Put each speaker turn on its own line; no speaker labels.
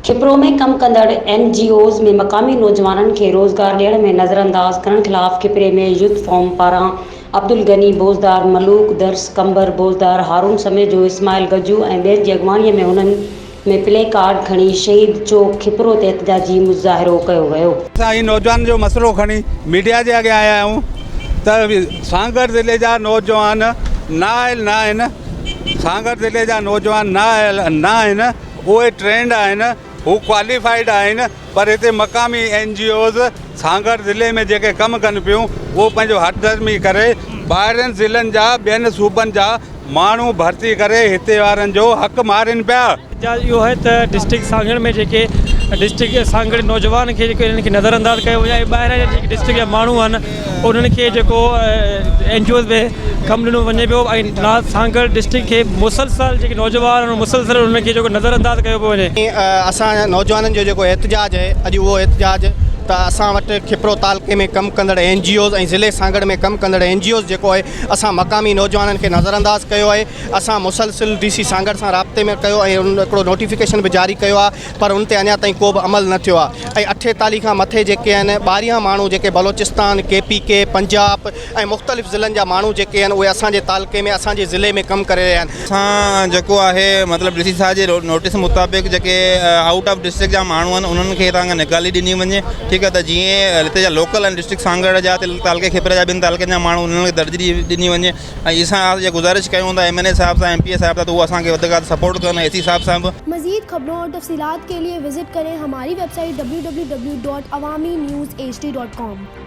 کپرو ۾ ڪم ڪندڙ N G Os ۾ مقامي نوجوانن کي روزگار ڏيڻ ۾ نظرانداز ڪرڻ خلاف کپري ۾ يوٿ فورم پاران عبدالغني بوزدار، ملوڪ درس قنبر بوزدار، هارون سميجو، اسماعيل گجو ۽ ٻين جي اڳواڻي ۾ انهن ۾ پلي ڪارڊ کڻي شهيد چوڪ کپرو تي احتجاجي مظاهرو ڪيو ويو. اسان هي نوجوانن جو
مسئلو کڻي ميڊيا جي اڳيان آيا آهيون ته سانگهڙ ضلعي جا نوجوان نه آيل نه آهن، سانگهڙ ضلعي جا نوجوان نه آيل نه آهن، اهي ٽرينڊ آهن، هو ڪواليفائيڊ آهن، پر هتي مقامي اين جي اوز سانگهڙ ضلعي ۾ جيڪي ڪم ڪن پيون اهو پنهنجو هٺ ڌرمي ڪري ٻاهرين ضلعن جا ٻين صوبن جا ماڻهو ڀرتي ڪري هتي وارن جو حق مارين پيا. جا اهو آهي ته
ڊسٽرڪٽ سانگهڙ ۾ جيڪي ڊسٽرڪٽ سانگهڙ نوجوان کي جيڪو هنن کي نظر انداز ڪيو وڃي ۽ ٻاهران جا جيڪي ڊسٽرڪٽ جا ماڻهو آهن انهن کي جيڪو اين جي اوز ۾ ڪم ڏنو وڃي پيو ۽ نا سانگهڙ ڊسٽرڪٽ کي مسلسل جيڪي نوجوان مسلسل انهن کي جيڪو نظر انداز ڪيو پيو وڃي. اسان نوجوانن
جو جيڪو احتجاج اهي اڄ اهو احتجاج ته اسان وٽ کپرو تعلقي ۾ ڪم ڪندڙ اين جي اوز ۽ ضلعي سانگهڙ ۾ ڪم ڪندڙ اين جي اوز جيڪو اهي اسان مقامي نوجوانن کي نظر انداز ڪيو اهي اسان مسلسل ڊي سي سانگهڙ سان رابطي ۾ ڪيو ۽ هڪڙو نوٽيفڪيشن به جاري ڪيو آهي پر ان تي اڃا تائين ڪو به عمل نه ٿيو آهي ۽ اٺيتاليهه کان مٿي جيڪي آهن ٻاهريان ماڻهو جيڪي Balochistan, K P K, Punjab ۽ مختلف ضلعن جا ماڻهو جيڪي آهن اهي اسان جي تعلقي ۾ اسان جي ضلعي ۾ ڪم ڪري رهيا آهن. اسان جيڪو آهي
مطلب ڊي سي صاحب جي نوٽيس مطابق جيڪي آئوٽ آف ڊسٽرڪٽ جا ماڻهو آهن انهن کي هتان کان نيڪالي ڏني وڃي ٺيڪ آهي ته جيئن هتي جا لوڪل آهن ڊسٽرڪٽ سانگهڙ جا تعلقي کيپرا جا ٻين تعلقن جا ماڻهو انهن کي درجي ڏني وڃي. ۽ اسان آء اھا گذارش ڪيون ٿا ايم اين اي صاحب سان ايم پي اي صاحب سان ته اھو اسان کي وڌ کان وڌ سپورٽ ڪن ايس اي صاحب سان به. مزيد خبرون اور
تفصيلات ڪي لئي وزٽ ڪرين ھماري ويب سائيٽ www.awaminews hd.com.